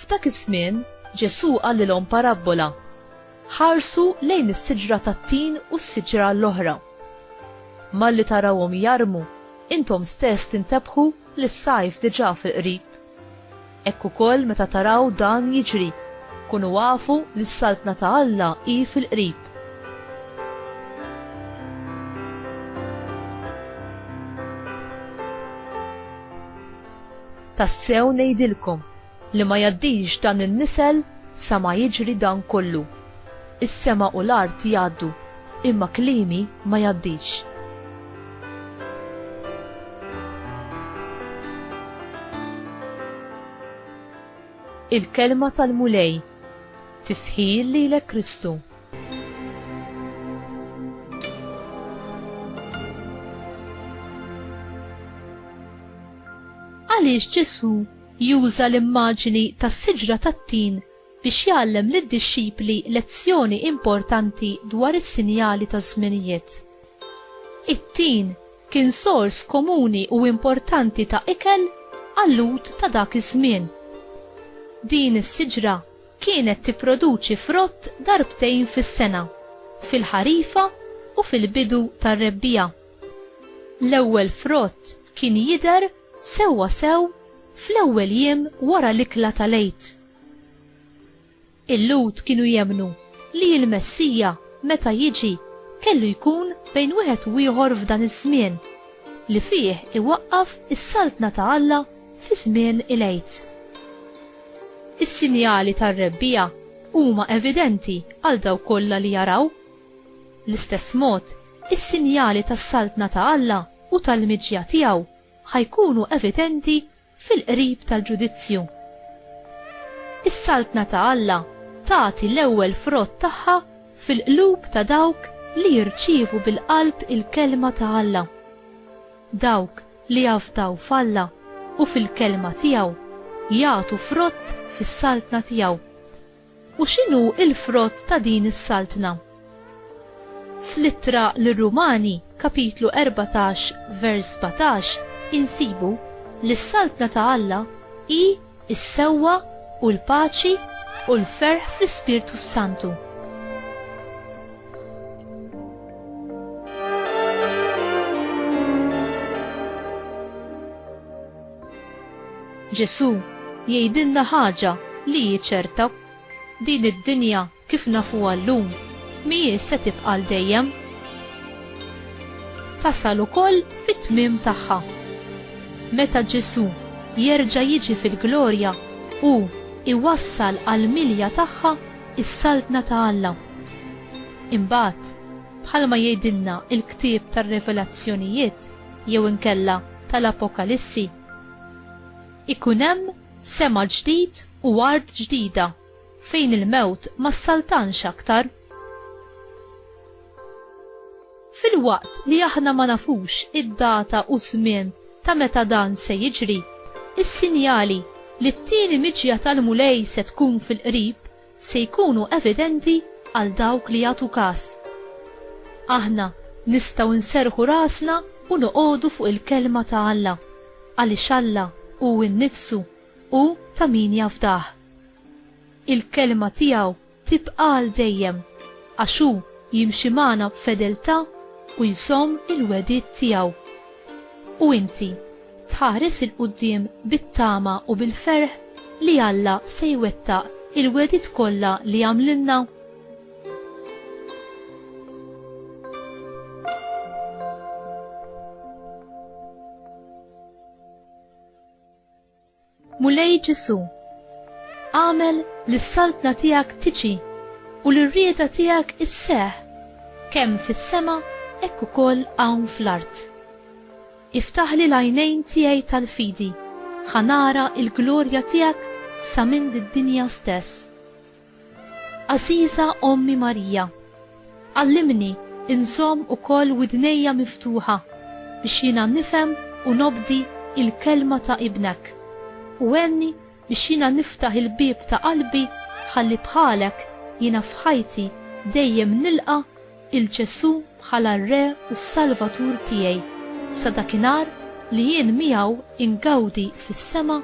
F'dak iż-żmien Ġesù qalilhom parabbola. Ħarsu lejn is-siġra tat-tin u s-siġra l-oħra. Malli tarawhom jarmu, intom stess tintebħu li s-sajf diġà fil-qrib. Hekk ukoll meta taraw dan jiġri, kunu afu li s-Saltna ta' Alla hi fil-qrib. Tassew ngħidilkom li ma jgħaddix dan in-nisel sa ma jiġri dan kollu. Is-sema u l-art jgħaddu, imma kliemi ma jgħaddix. Il-Kelma tal-Mulej. Tifħir lilek Kristu. Għaliex Ġesù juża l-immaġini tas-siġra tat-tin biex jgħallem lid-dixxipli lezzjoni importanti dwar is-sinjali taż-żminijiet. It-tin kien sors komuni u importanti ta' ikel għal-Lhud ta' dak iż-żmien. Din is-siġra kienet tipproduċi frott darbtejn fis-sena, fil-ħarifa u fil-bidu tar-rebbiegħa. L-ewwel frott kien jidher sewwasew fl-ewwel jiem wara l-ikla tal-Għid. Il-Lhud kienu jemmnu li l-Messija, meta jiġi, kellu jkun bejn wieħed u ieħor f'dan iż-żmien, li fih iwaqqaf is-Saltna ta' Alla fi żmien il-Għid. Is-sinjali tar-Rebbiegħa huma evidenti għal dawk kollha li jaraw. Bl-istess mod, is-sinjali tas-Saltna ta' Alla u tal-miġja tiegħu ħa jkunu evidenti fil-qrib tal-ġudizzju. Is-Saltna ta' Alla tagħti l-ewwel frott tagħha fil-qlub ta' dawk li jirċievu bil-qalb il-kelma ta' Alla. Dawk li jafdaw f'Alla u fil-kelma tiegħu jagħtu frott fis-Saltna tiegħu. U x'inhu l-frott ta' din is-saltna? Fl-Ittra lir-Rumani, kapitlu 14, vers 17, insibu li s-saltna ta' Alla hi s-sewwa u l-paċi u l-ferħ fl-Ispirtu s-Santu. Ġesù jgħidilna ħaġa li hi ċerta, din id-dinja kif nafuha llum mhijiex se tibqa' għal dejjem. Tasal ukoll fit-tmiem tagħha. Meta Ġesù jerġa' jiġi fil-glorja, hu jwassal għall-milja tagħha s-Saltna ta' Alla. Imbagħad, bħalma jgħidilna l-ktieb tar-Revelazzjonijiet, jew inkella tal-Apokalissi. Ikun hemm sema ġdid u art ġdida fejn il-mewt ma ssaltanx aktar. Filwaqt li aħna ma nafux id-data u ż-żmien ta' meta dan se jiġri, is-sinjali li t-tieni miġja tal-Mulej se tkun fil-qrib se jkunu evidenti għal dawk li jagħtu kas. Aħna nistgħu nserrħu rasna u noqogħdu fuq il-Kelma ta' Alla, għaliex Alla hu nnifsu hu ta' min jafdah. Il-Kelma tiegħu tibqa' għal dejjem, għax hu jimxi magħna b'fedeltà u jżomm il-wegħdiet tiegħu. U inti? tħares 'il quddiem bit-tama u bil-ferħ li Alla se jwettaq il-wegħdiet kollha li għamlilna? Mulej Ġesù, agħmel li s-Saltna tiegħek tiġi u li r-rieda tiegħek isseħħ kemm fis-sema hekk ukoll hawn fl-art. Iftaħli l-għajnejn tiegħi tal-fidi, ħa nara l-glorja tiegħek sa minn did-dinja stess. Għażiża Ommi Marija, għallimni nżomm ukoll widnejja miftuħa biex jiena nifhem u nobdi l-Kelma ta' Ibnek, u għenni biex jiena niftaħ il-bieb ta' qalbi ħalli bħalek jiena f'ħajti dejjem nilqa' 'il Ġesù bħala r-Re u s-Salvatur tiegħi, sa dakinhar li jien miegħu ingawdi fis-sema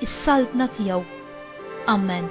s-Saltna tiegħu. Ammen.